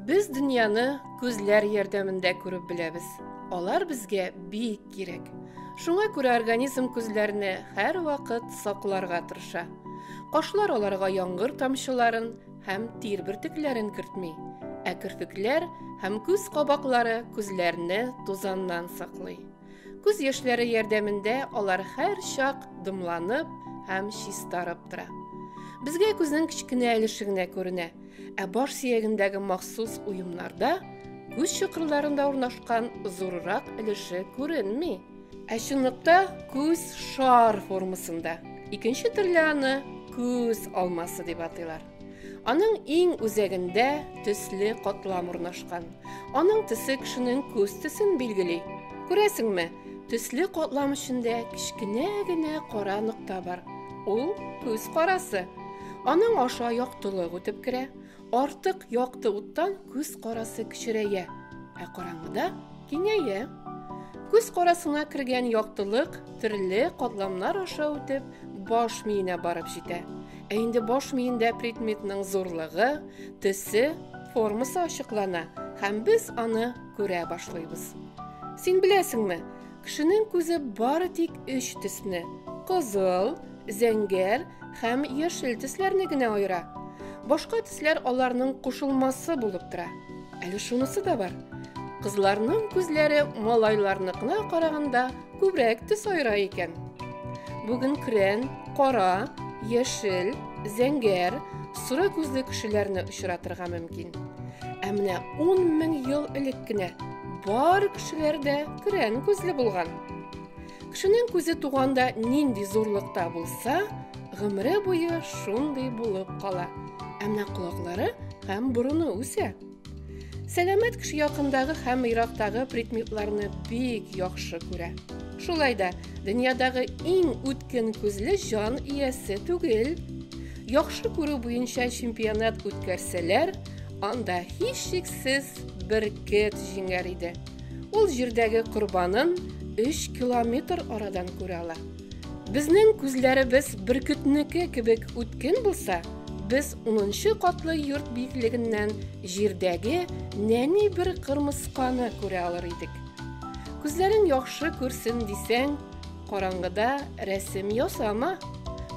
Без дөньяны күзләр ярдәмендә күреп беләбез. Алар безгә бик кирәк. Шуңа күрә организм күзләрне һәрвакыт сакларга тырыша. Кошлар аларга яңгыр тамчыларын, һәм тир бөртекләрен кертми, ә керфекләр һәм күз кабаклары күзләрне тузаннан саклый. Күз яшьләре ярдәмендә алар һәр чак дымланып һәм чистарып тора. Безгә күзнең кечкенә өлеше генә күренә, ә баш сөягендәге махсус уемнарда күз чокырларында урнашкан зуррак өлеше күренми. Ә чынлыкта күз шар формасында. Икенче төрле аны күз алмасы дип атыйлар. Аның иң үзәгендә төсле катлам урнашкан. Аның төсе кешенең күз төсен билгели. Күрәсеңме, төсле катлам эчендә кечкенә генә кара нокта бар. Ул күз карасы. Аның аша яктылык үтеп керә. Артык якты уттан күз карасы кечерәя, ә караңгыда киңәя. Күз карасына кергән яктылык төрле катламнар аша үтеп баш миенә барып җитә. Ә инде баш миендә предметның зурлыгы, төсе, формасы ачыклана һәм без аны күрә башлыйбыз. Син беләсеңме, Кешенең күзе бары тик өч төсне, кызыл, зәңгәр һәм яшел төсләрне генә аера. Башка төсләр аларның кушылмасы булып тора. Әле шунысы да бар. Кызларның күзләре малайларныкына караганда күбрәк төс аера икән. Бүген крен, кара, яшел, зәңгәр, соры күзле кешеләрне очратырга мөмкин. Ә менә 10 мең ел элек кенә Бар кешеләр дә күрән күзле булган. Кешенең күзе туганда нинди зурлыкта булса, гомере буе шундый булып кала. Ә менә колаклары һәм борыны үсә. Сәламәт кеше якындагы һәм ерактагы предметларны бик яхшы күрә. Шулай да дөньядагы иң үткен күзле җан иясе түгел. Яхшы күрү буенча чемпионат үткәрсәләр, анда һичшиксез бөркет җиңәр иде. Ул җирдәге корбанын 3 километр арадан күрә ала. Безнең күзләребез бөркетнеке кебек үткен булса, без 10 катлы йорт биеклегеннән җирдәге нәни бер кырмысканы күрә алыр идек. Күзләрең яхшы күрсен дисәң, караңгыда рәсем ясама.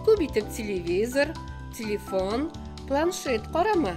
Күп итеп телевизор, телефон, планшет карама.